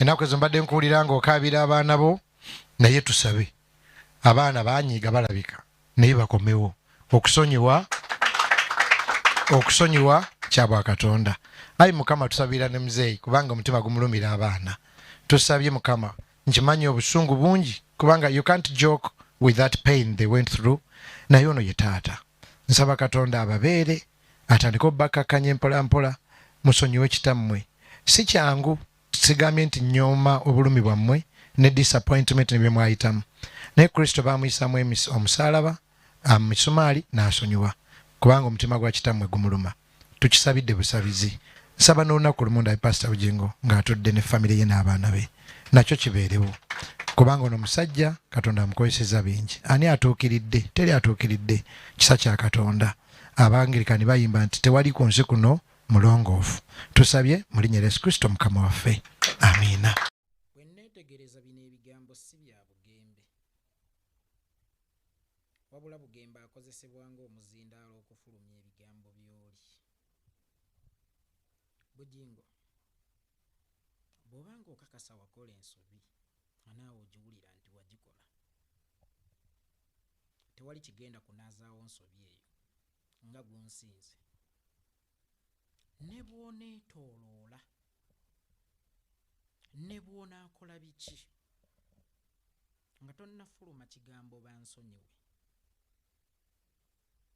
enaku ezo mbadde nkuwulira nga okaabira abaana bo naye tusabe abaana banyiiga balabika naye bakomewo okusonyiwa okusonyiwa kyabwakatonda ayi mukama tusabira ne muzeeyi kubanga omutima gumulumira abaana tusabye mukama nkimanyi obusungu bungi kubanga you can't joke with that pain they went through naye ono ye taata nsaba katonda ababeere atandike obubakkakkanya empolampola musonyiwe kitammwe si kyangu sigambye nti nyooma obulumi bwammwe ne disappointment ne bye mwayitamu naye kristo baamuyisamu omusaalaba misumaali n'asonyiwa kubanga omutima gwa kitammwe gumuluma tukisabidde busabizi nsaba n'olunaku lumu ndabe pasita bugingo ng'atudde ne famire ye n'abaana be nakyo kibeerewo kubanga ono musajja katonda amukozeseza bingi ani atuukiridde teri atuukiridde kisa kya katonda abangirikani bayimba nti tewali ku nsi kuno mulongoofu tusabye mu linnya lyesu kristo mukama waffe amiina bwenneetegereza bino ebigambo si bya bugembe wabula bugembe akozesebwa ng'omuzindaalo okufulumya ebigambo by'oli bugingo bw'oba ng'okakasa wakola ensobi anaawe ogiwulira nti wagikola tewali kigenda kunaazaawo nsobi eyo nga gunsinze ne bwoneetooloola ne bwonaakola biki nga tonnafuluma kigambo bansonyiwe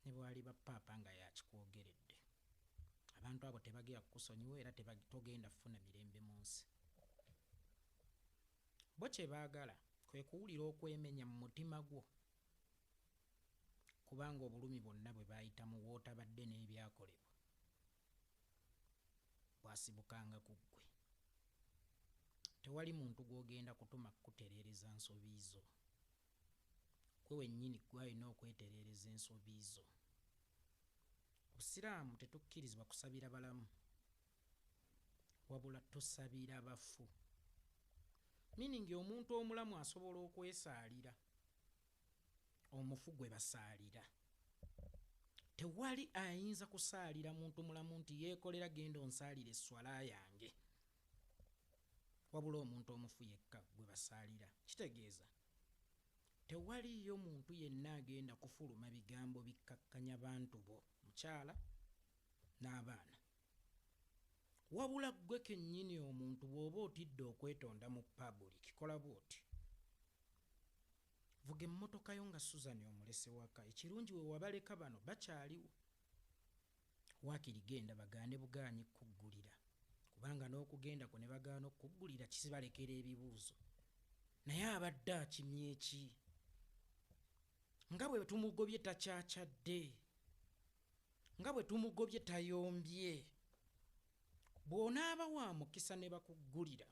ne bwali ba paapa nga yakikwogeredde abantu abo tebagera kukusonyiwa era togenda kufuna mirembe mu nsi bo kye baagala kwe kuwulira okwemenya mu mutima gwo kubanga obulumi bwonna bwe baayitamu w'otabadde n'ebyakolebwa bwasibukanga ku ggwe. Tewali muntu gw'ogenda kutuma kukutereereza nsobi zo. Ggwe wennyini ggwe alina okwetereereza ensobi zo. Obusiraamu tetukkirizibwa kusabira balamu, wabula tusabira bafu. Meaning omuntu omulamu asobola okwesaalira. omufu gwe basaalira tewali ayinza kusaalira muntu mulamu nti yeekolera genda onsaalira esswala yange wabula omuntu omufu yekka gwe basaalira kitegeeza tewaliyo muntu yenna agenda kufuluma bigambo bikkakkanya bantu bo mukyala n'abaana wabula ggwe kennyini omuntu bw'oba otidde okwetonda mu pabulik kola bwoti Vuga emmotoka yo nga Suzan omulese waka. Ekirungi we wabaleka bano bakyaliwo. Waakiri genda bagaane bugaanyi kukuggulira kubanga n'okugenda kwo ne bagaana okukuggulira kizibalekera ebibuuzo. Naye abadde akimye ki? Nga bwe tumugobye takyakyadde. Nga bwe tumugobye tayombye. Bw'onaaba wa mukisa ne bakuggulira.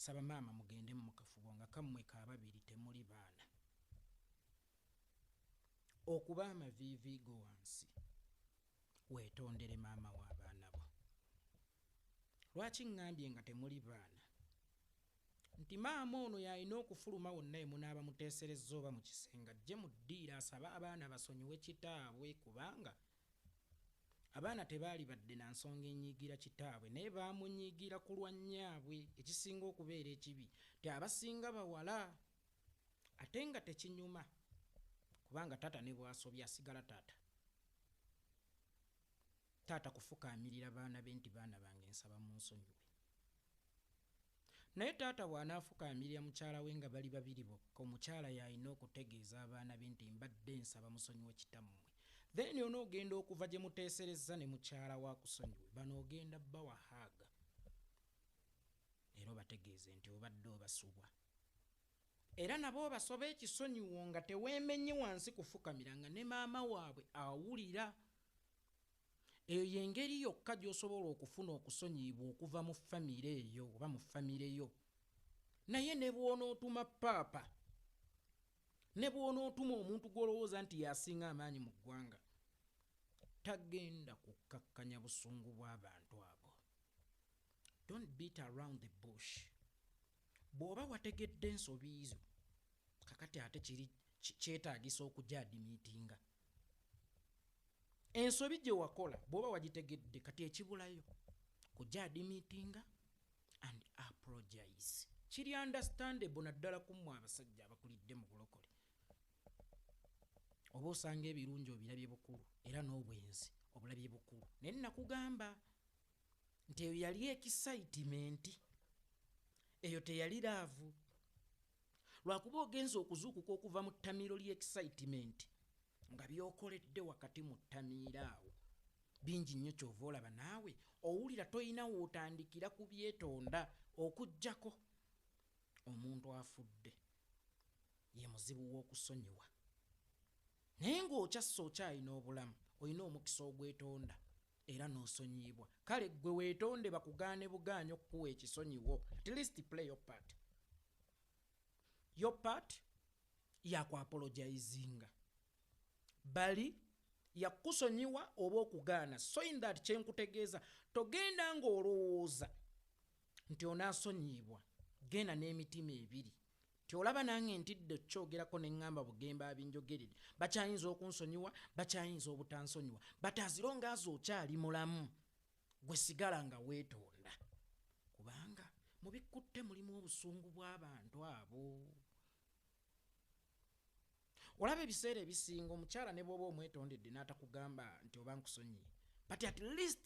Saba maama mugende mukafubo nga kamwe kababiri temuli baana okuba amaviivi go wansi wetondere maama wa baana bo lwaki ngambye nga temuli baana nti maama ono yalina okufuluma wonna emunaaba muteeserezza oba mu kisenge ajje mu ddiiro asabe abaana basonyiwe kitaabwe kubanga Abaana tebaalibadde na nsonga enyiigira kitaabwe naye baamunyiigira ku lwa nnyaabwe ekisinga okubeera ekibi nti abasinga bawala ate nga tekinyuma kubanga taata ne bw'asobya asigala taata. Taata kufukaamirira baana be nti baana bange nsaba munsonyiwe. Naye taata bw'anaafukaamilira mukyala we nga bali babiri bokka, omukyala y'alina okutegeeza abaana be nti, Mbadde nsaba musonyiwe kitammwe. Then onoogenda okuva gye muteeserezza ne mukyala wo akusonyiwe. Bano ogenda bawa hug era obategeeze nti obadde obasubwa. Era nabo obasobe ekisonyiwo nga teweemenye wansi kufukamira nga ne maama waabwe awulira. Eyo y'engeri yokka gy'osobola okufuna okusonyiyibwa okuva mu famire eyo oba mu famire yo. Naye ne bw'onootuma paapa, ne bw'onootuma omuntu gw'olowooza nti y'asinga amaanyi mu ggwanga, tagenda kukkakkanya busungu bw'abantu abo. Don't beat around the bush. Bw'oba wategedde ensobi zo, kakati ate kiri kyetaagisa okugyadimiitinga. ensobi gye wakola bwoba wagitegedde kati ekibulayo kujja adimitinga and apologize kiri understandable naddala kummwe abasajja abakulidde mu bulokole oba osanga ebirungi obirabye bukulu era n'obwenzi obulabye bukulu naye nakugamba nti eyo yali ekisaitimenti eyo teyali laavu lwakuba ogenza okuzuukuka okuva mu ttamiiro ly'excitement nga byokoledde wakati mu ttamiiro awo bingi nnyo kyova olaba naawe owulira tolina wootandikira ku byetonda okugyako omuntu afudde ye muzibu w'okusonyiwa naye ng'okyasse okyalina obulamu olina omukisa ogwetonda era n'osonyiyibwa kale ggwe weetonde bakugaane bugaanyi okukuwa ekisonyiwo at least play your part your part yakuapologizinga bali yakukusonyiwa oba okugaana so in that kyenkutegeeza togenda ng'olowooza nti onaasonyiyibwa genda n'emitima ebiri Kyolaba nange ntidde okukyogerako ne ŋŋamba Bugembe abinjogerere. Bakyayinza okunsonyiwa, bakyayinza obutansonyiwa. But as long as okyali mulamu, gwe sigala nga weetonda. Kubanga mu bikkutte mulimu obusungu bw'abantu abo. Olaba ebiseera ebisinga omukyala ne bw'oba omwetondedde n'atakugamba nti oba nkusonyiye. But at least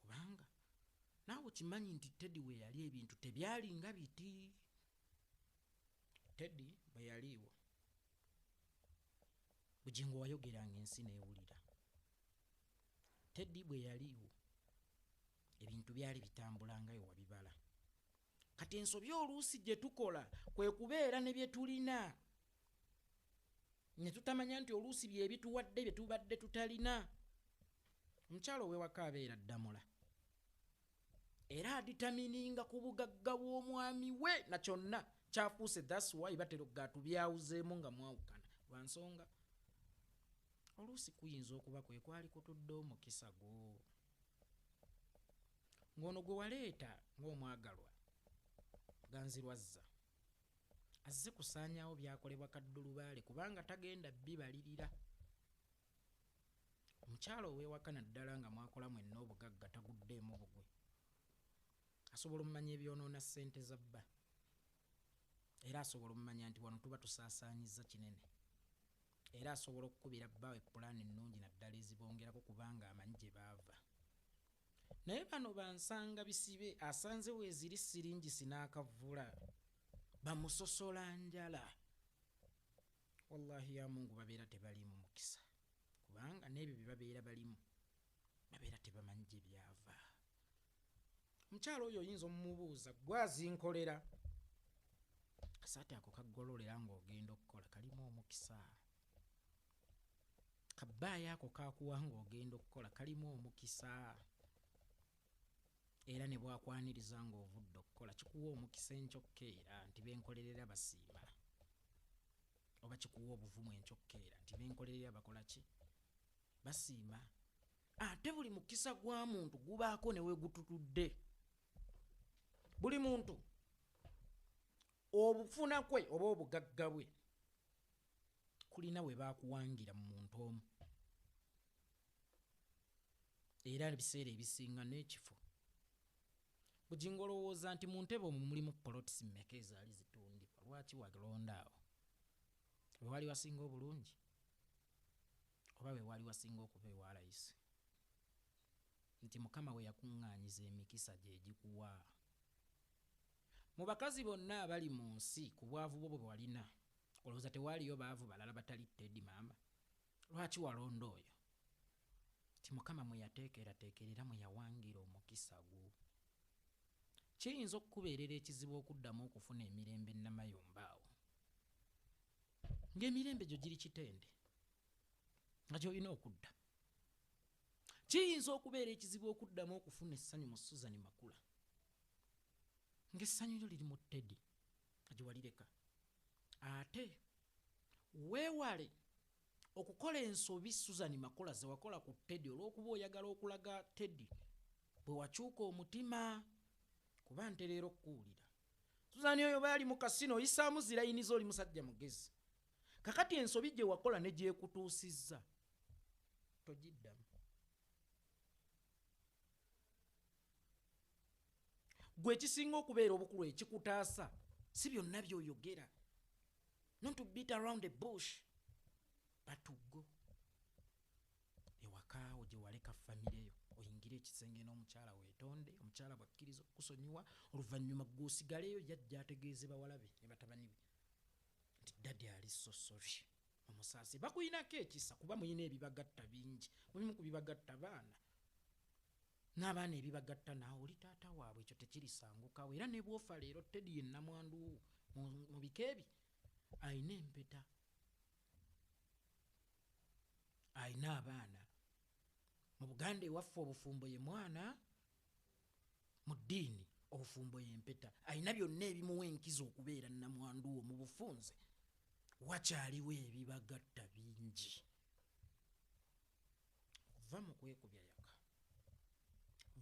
kubanga naawe kimanyi nti teddy weyali ebintu tebyali nga biti teddy bweyaliiwo bugingo wayogeranga ensi newulira teddy bweyaliiwo ebintu byali bitambula nga yo wabibala kati ensobi oluusi gye tukola kwe kubeera ne bye tulina ne tutamanya nti oluusi bye bituwadde bye tubadde tutalina omukyalo ow'ewaka abeera ddamula era aditamininga ku bugagga bw'omwami we na kyonna kyafuuse thats why batera okugaatubyawuzeemu nga mwawukana lwa nsonga oluusi kuyinza okuba kwe kwali kutudde omukisa gwo ng'ono gwe waleeta ng'omwagalwa ganzirwazza azze kusaanyaawo byakolebwa kaddulubaale kubanga tagenda bibalirira omukyala ow'ewaka naddala nga mwakola mwenna obugagga taguddeemu bugwe asobola omumanya ebyonoona ssente za bba era asobola omumanya nti wano tuba tusaasaanyizza kinene Era asobola okukubira bbawe pulaani ennungi naddala ezibongerako kubanga amanyi gye baava. Naye bano bansanga bisibe asanze weeziri siringisi n'akavvula bamusosola njala. Wallahi ya Mungu babeera tebaliimu mukisa kubanga n'ebyo bye babeera balimu babeera tebamanyi gye byava omukyalo oyo oyinza omumubuuza gwazinkolera kasaati ako kaggololera ng'ogenda okukola kalimu omukisa kabbaayo ako kakuwa ng'ogenda okukola kalimu omukisa era ne bwakwaniriza ng'ovudde okukola kikuwa omukisa enkyokka era nti benkolerera basiima oba kikuwa obuvumu enkyokka era nti benkolerera bakola ki basiima ate buli mukisa gwa muntu gubaako newegututudde buli muntu obufuna kwe oba obugagga bwe kulina we bakuwangira mu muntu omu era ebiseera ebisinga n'ekifo bugingo olowooza nti mu ntebe omwo mulimu polotisi mmeka ezaali zitundibwa lwaki walonda awo wewali wasinga obulungi oba we waali wasinga okuba ewa layisi, nti Mukama we yakuŋŋaanyiza emikisa gye egikuwa. Mu bakazi bonna abali mu nsi, ku bwavu bwo bwe walina, olowooza tewaaliyo baavu balala batali Teddy maama? Lwaki walonda oyo, nti Mukama mwe yateekerateekera era mwe yawangira omukisa gwo? Kiyinza okukubeerera ekizibu okuddamu okufuna emirembe nnamayumba awo. ngaemirembe gyo giri kitende nga gyolina okudda kiyinza okubeera ekizibu okuddamu okufuna essanyu mu suzani makula ngaessanyu lyo liri mu teddy nga gyewalireka ate weewale okukola ensobi suzani makula zewakola ku teddy olw'okuba oyagala okulaga teddy bwe wakyuka omutima kuba ntereera okukuwulira suzani oyo bayali mu kasino oyisaamu zirayiniza oli musajja mugezi kakati ensobi gye wakola ne gyekutuusizza togiddamu gwe ekisinga okubeera obukulu ekikutaasa si byonna byoyogera not to beat around the bush but to go ewakaawo gyewaleka famireyo oyingire ekisenge n'omukyala wetonde omukyala bwakkiriza okusonyiwa oluvannyuma gwosigaleyo yajja ategeeze bawalabe ne batabani be nti dadi ali sosori omusaasi bakuyinako ekisa kuba muyina ebibagatta bingi mulimu ku bibagatta baana n'abaana ebibagatta naawe oli taata waabwe ekyo tekirisangukawo era nebwofa leero tedi ye namwanduwo mu bika ebi ayina empeta alina abaana mu buganda ewaffe obufumbo ye mwana mu ddiini obufumbo yempeta alina byonna ebimuwa enkiza okubeera namwandu wo mu bufunze wakyaliwo ebibagatta bingi va mu kwekubya yaka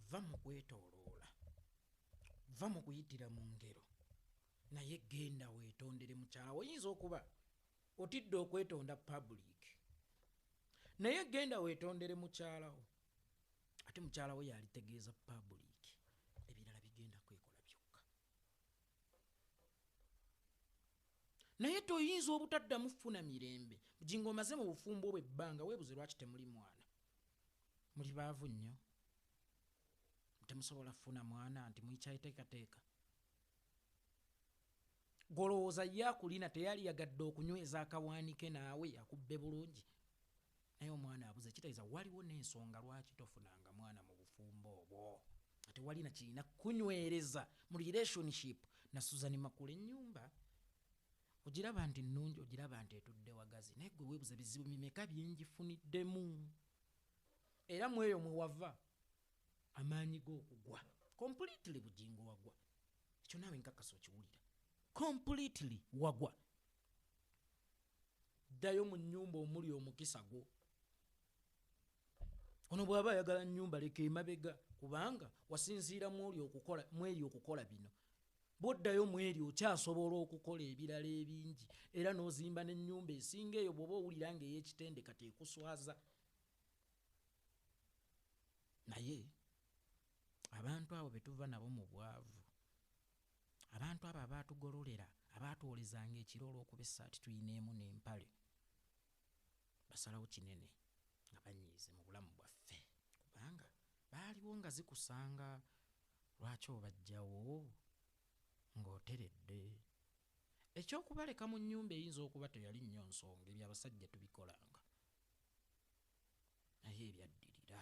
va mu kwetoloola va mu kuyitira mu ngero naye genda weetondere mukyala oyinza okuba otidde okwetonda public naye genda wetondere mukyalawo ate mukyalawo yalitegeeza public ebirala bigenda kwekola byokka naye toyinza obutaddamu funa mirembe bujinga omaze mu bufumbo obwe ebbanga webuze lwaki temuli mwana muli baavu nnyo temusobola funa mwana nti muyikyayiteekateeka Gwe olowooza ye akulina teyaliyagadde okunyweza akawaani ke naawe akubbe bulungi? Naye omwana abuze kitegeeza waliwo n'ensonga lwaki tofunanga mwana mu bufumbo obwo nga tewali na kirina kukunywereza mu relationship na Suzan Makula ennyumba ogiraba nti nnungi ogiraba nti etudde wagazi naye gwe weebuza bizibu mimeka byenjifuniddemu era mu eyo mwe wava amaanyi g'okugwa completely bugingo wagwa ekyo naawe nkakasa okiwulira completely wagwa ddayo mu nyumba omuli omukisa gwo ono bwaba ayagala nyumba leka emabega kubanga wasinziira mwoli okukola mweri okukola bino bwoddayo mweri okyasobola okukola ebirala ebingi era n'ozimba n'ennyumba esinga eyo bwoba owulira nga ey'ekitendeka tekuswaza naye abantu abo betuva nabo mu bwavu abantu abo abaatugololera abaatwolezanga ekiro olw'okuba essaati tulina emu n'empale basalawo kinene nga banyiize mu bulamu bwaffe kubanga baaliwo nga zikusanga lwaki obajjawo ng'oteredde ekyokubaleka mu nnyumba eyinza okuba teyali nnyo nsonga ebyo abasajja tubikolanga naye ebyaddirira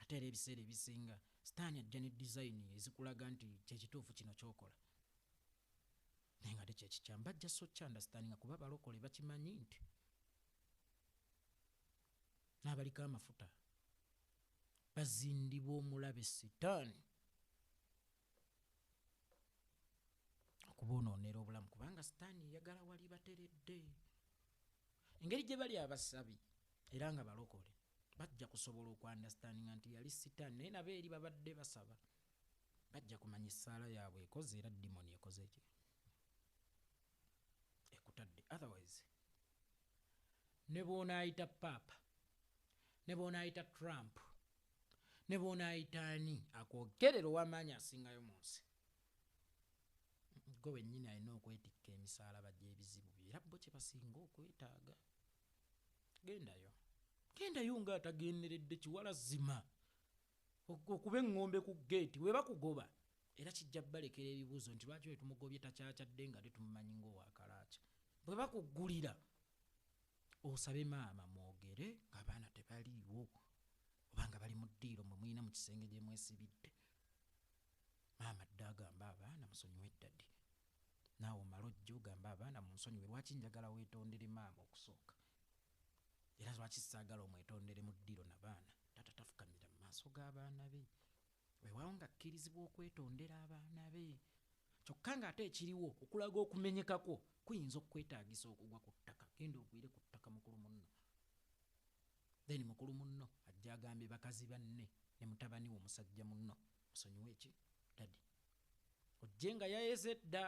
Ate era ebiseera ebisinga sitaani ajja ne dizayini ezikulaga nti kyekituufu kino kyokola naye nga tekyekikyamu bajja sokyandastandinga kuba balokole bakimanyi nti n'abaliko amafuta bazindibwa omulabe sitaani okubonoonera obulamu kubanga sitaani eyagala wali bateredde engeri gye bali abasabi era nga balokole bajja kusobola okwandastandinga nti yali sitaani naye nabo eri babadde basaba bajja kumanya essaala yaabwe ekoze era dimoni ekoze ekyo ekutadde otherwise ne bwonaayita paapa ne bwonaayita trump ne bwonaayita ani akwogerera ow'amaanyi asingayo mu nsi gwe wennyini alina okwetikka emisaalaba gy'ebizibu byo era bo kye basinga okwetaaga gendayo gendayo nga atagenderedde kiwala zima okuba eŋŋombe ku geeti we bakugoba era kijja balekera ebibuuzo nti lwaki we tumugobye takyakyadde nga tetumumanyi ngaowakalaakya bwe bakuggulira osabe maama mwogere ng'abaana tebaliiwo oba nga bali mu ddiiro mwe mulina mu kisenge gye mwesibidde maama dda agamba abaana musonyiwe eddadi naawe omala ojja ogamba abaana mu nsonyiwe lwaki njagala weetondere maama okusooka era lwaki saagala omwetondere mu ddiiro na baana tata tafukamira mu maaso g'abaana be weewaawo ng'akkirizibwa okwetondera abaana be kyokka ng'ate ekiriwo okulaga okumenyekakwo kuyinza okukwetaagisa okugwa ku ttaka genda ogwire ku ttaka mukulu munno then mukulu munno ajja agambye bakazi banne ne mutabani wo musajja munno musonyiwa eki dadi ojje nga yayeze dda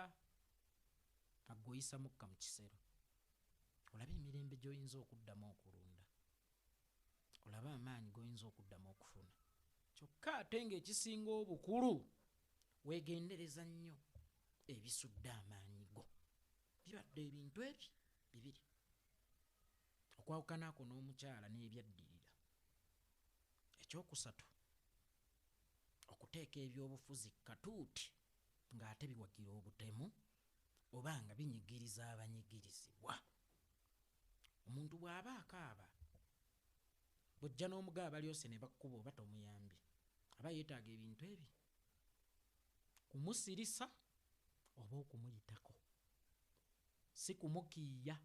aggoyisa mukka mu kisero olaba emirembe gy'oyinza okuddamu okulunda olaba amaanyi goyinza okuddamu okufuna kyokka ate ngaekisinga obukulu wegendereza nnyo ebisudde amaanyi go bibadde ebintu ebyo bibiri okwawukanaako n'omukyala n'ebyaddirira ekyokusatu okuteeka ebyobufuzi katuuti ng'ate biwagira obutemu oba nga binyigiriza abanyigirizibwa omuntu bw'aba akaaba bw'ojja n'omugaa balyose ne bakkuba oba tomuyambye aba yeetaaga ebintu ebi kumusirisa oba okumuyitako si kumukiiya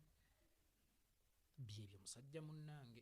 byebyo musajja munnange